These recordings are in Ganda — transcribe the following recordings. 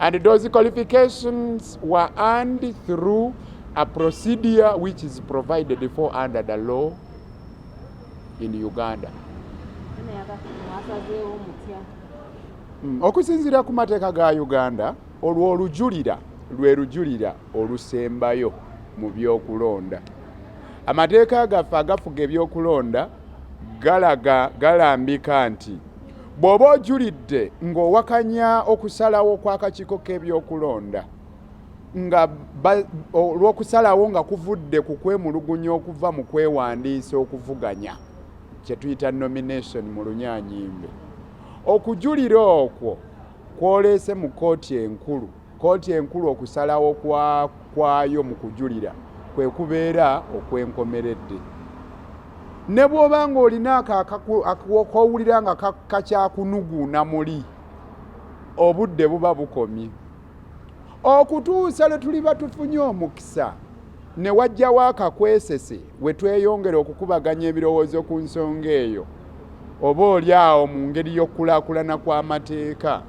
And those qualifications were earned through a procedure which is provided for under the law in Uganda. Mm, okusinziira ku mateeka ga Uganda olwo olujulira lwe lujulira olusembayo mu byokulonda. Amateeka gaffe agafuga ebyokulonda galaga galambika nti Bw'oba ojulidde ng'owakanya okusalawo kw'akakiiko k'ebyokulonda nga olw'okusalawo nga kuvudde ku kwemulugunya okuva mu kwewandiisa okuvuganya kye tuyita nomination mu lunyaanyimbe okujulira okwo kwoleese mu kkooti enkulu Kkooti enkulu okusalawo kwayo mu kujulira kwe kubeera okwenkomeredde ne bw'oba ng'olina ako kowulira nga kakyakunuguuna muli obudde buba bukomye okutuusa lwe tuliba tufunye omukisa ne wajjawo akakwesese we tweyongera okukubaganya ebirowoozo ku nsonga eyo oba oli awo mu ngeri y'okukulaakulana kw'amateeka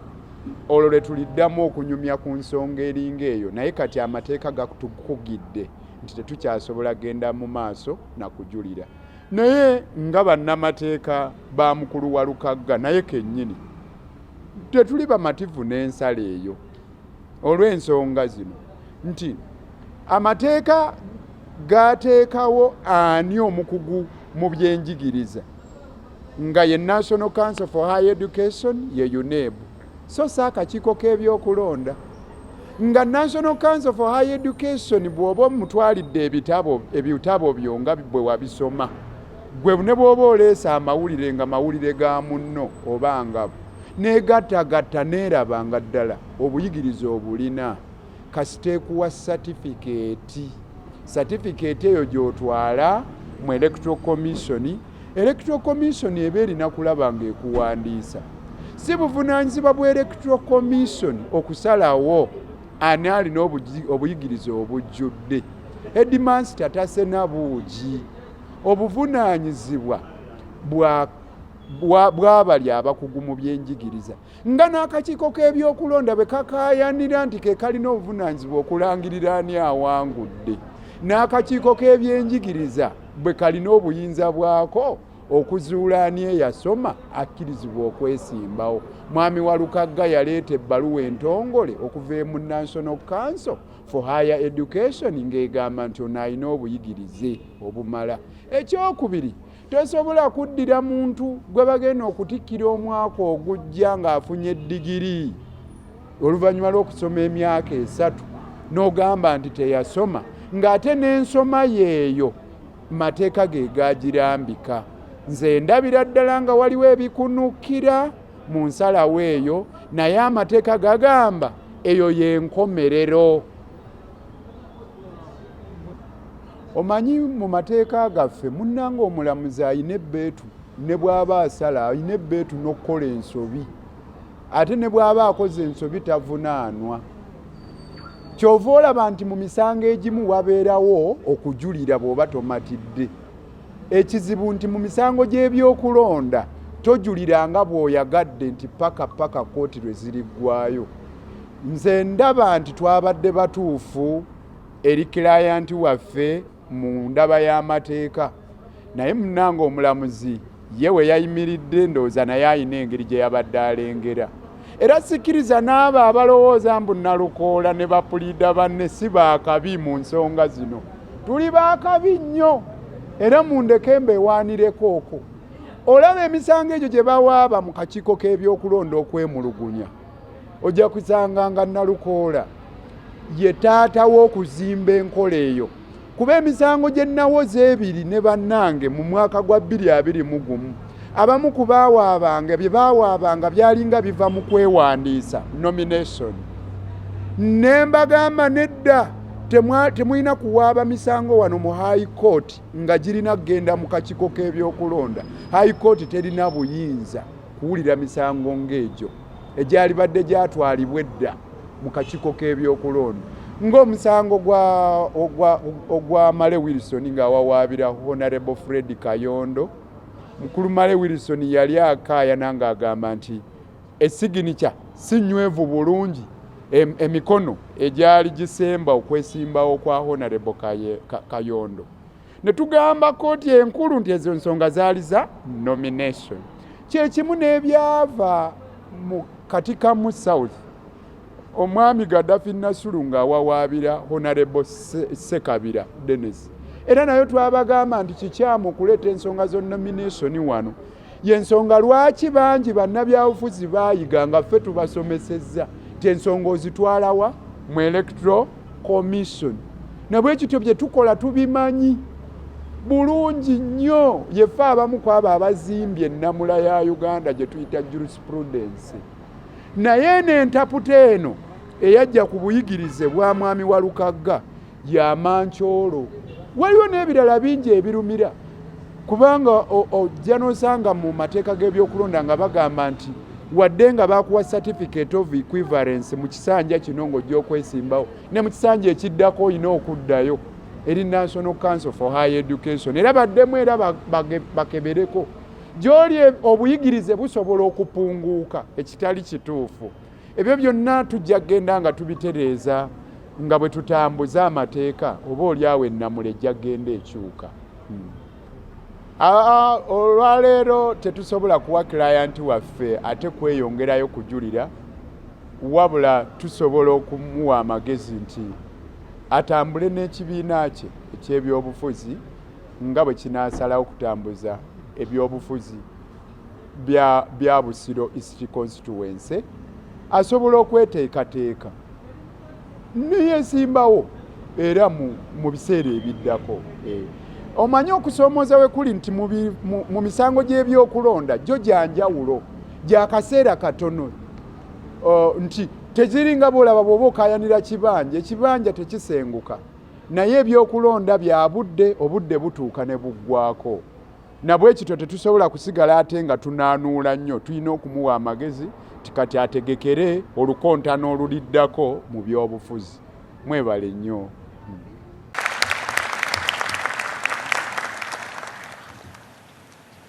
olwo lwe tuliddamu okunyumya ku nsonga eringa eyo naye kati amateeka gatukugidde nti tetukyasobola genda mu maaso na kujulira naye nga bannamateeka ba mukulu wa lukagga naye kennyini tetuli bamativu n'ensala eyo olw'ensonga zino nti amateeka gaateekawo ani omukugu mu byenjigiriza nga ye National Council for High Education ye UNEB so si akakiiko k'ebyokulonda nga National Council for High Education bw'oba omutwalidde ebitabo ebitabo byo nga bwe wabisoma gwe ne bw'oba oleesa amawulire nga mawulire ga munno oba ngabo neegattagatta neeraba nga ddala obuyigiriza obulina kasita ekuwa satifikeeti satifikeeti eyo gy'otwala mu electoral commission electoral commission eba erina kulaba ng'ekuwandiisa si buvunaanyizibwa bwa electoral commission okusalawo ani alina obuyigiriza obujjudde edimansi tatasena buugi obuvunaanyizibwa bwa bwabali abakugu mu byenjigiriza nga n'akakiiko k'ebyokulonda bwe kakaayanira nti ke kalina obuvunaanyizibwa okulangirira ani awangudde n'akakiiko k'ebyenjigiriza bwe kalina obuyinza bwako okuzuula ani eyasoma akkirizibwa okwesimbawo mwami walukagga yaleeta ebbaluwa entongole okuva emu national council for higher education ng'egamba nti ono alina obuyigirize obumala ekyokubiri Tosobola kuddira muntu gwe bagenda okutikkira omwaka ogujja ng'afunye digiri oluvannyuma lw'okusoma emyaka esatu n'ogamba nti teyasoma ng'ate n'ensoma yeeyo mateeka ge gagirambika nze ndabira ddala nga waliwo ebikunukira mu nsalawo eyo naye amateeka gagamba eyo y'enkomerero omanyi mu mateeka gaffe munnanga omulamuzi alina ebbeetu ne bw'aba asala alina ebbeetu n'okukola ensobi ate ne bw'aba akoze ensobi tavunaanwa kyova olaba nti mu misango egimu wabeerawo okujulira bw'oba tomatidde ekizibu nti mu misango gy'ebyokulonda tojulira nga bw'oyagadde nti paka paka kkooti lwe ziriggwayo Nze ndaba nti twabadde batuufu eri kilayanti waffe mu ndaba y'amateeka naye munange omulamuzi ye we yayimiridde ndowooza naye alina engeri gye yabadde alengera era sikiriza n'abo abalowooza mbu nalukoola ne bapuliida banne si baakabi mu nsonga zino tuli baakabi nnyo era mundeke mbewaanireko okwo olaba emisango egyo gye bawaaba mu kakiiko k'ebyokulonda okwemulugunya ojja kusanga nga nalukoola ye taata w'okuzimba enkola eyo kuba emisango gye nawoza ebiri ne bannange mu mwaka gwa bbiri abiri mu gumu abamu ku baawaabanga bye baawaabanga byalinga biva mu kwewandiisa nomination ne mbagamba nedda temulina kuwaaba misango wano mu high court nga girina kugenda mu kakiiko k'ebyokulonda high court terina buyinza kuwulira misango ng'egyo egyalibadde gyatwalibwa edda mu kakiiko k'ebyokulonda ng'omusango ogwa male wilson ng'awawaabira honarable fred kayondo mukulu male wilson yali akaayana ng'agamba nti esiginica si nywevu bulungi emikono egyali gisemba okwesimbawo kwa honarable kayondo ne tugamba kkooti enkulu nti ezo nsonga zaali za nomination kyekimu n'ebyava mu katikamu south omwami gadafi nasulu ng'awawaabira honarebo sekabira denis era nayo twabagamba nti kikyamu okuleeta ensonga zo nomination wano yensonga lwaki bangi bannabyabufuzi baayiga nga ffe tubasomesezza ti ensonga ozitwalawa mu electoral commission nabwekityo bye tukola tubimanyi bulungi nnyo yefe abamu ku abo abazimbye ennamula ya uganda gye tuyita jurisprudensi naye eno entaputa eno eyajja ku buyigirize bwa mwami wa lukagga ya mancoolo waliwo n'ebirala bingi ebirumira kubanga ojja nosanga mu mateeka g'ebyokulonda nga bagamba nti wadde nga bakuwa certificate of equivalence mu kisanja kino ng'ojja okwesimbawo ne mu kisanja ekiddako olina okuddayo eri national council for high education era baddemu era bakebereko gyoli obuyigirize busobola okupunguuka ekitali kituufu Ebyo byonna tujja kugenda nga tubitereeza nga bwe tutambuza amateeka oba olyawo ennamula ejja kugenda ekyuka. Hmm. Olwaleero tetusobola kuwa kilayanti waffe ate kweyongerayo kujulira, wabula tusobola okumuwa amagezi nti atambule n'ekibiina kye eky'ebyobufuzi nga bwe kinaasalawo okutambuza ebyobufuzi. bya, bya Busiro East Constituency asobola okweteekateeka neyesimbawo era mu, mu biseera ebiddako eh. Omanyi okusoomoza we kuli nti mu, mu, mu misango gy'ebyokulonda gyo gya njawulo gya kaseera katono uh, nti teziringa bwolaba bwoba okayanira kibanja ekibanja tekisenguka naye ebyokulonda bya budde obudde butuuka ne buggwako nabwekityo tetusobola kusigala ate nga tunaanuula nnyo tulina okumuwa amagezi tikati ategekere olukontana oluliddako mu byobufuzi mwebale nnyo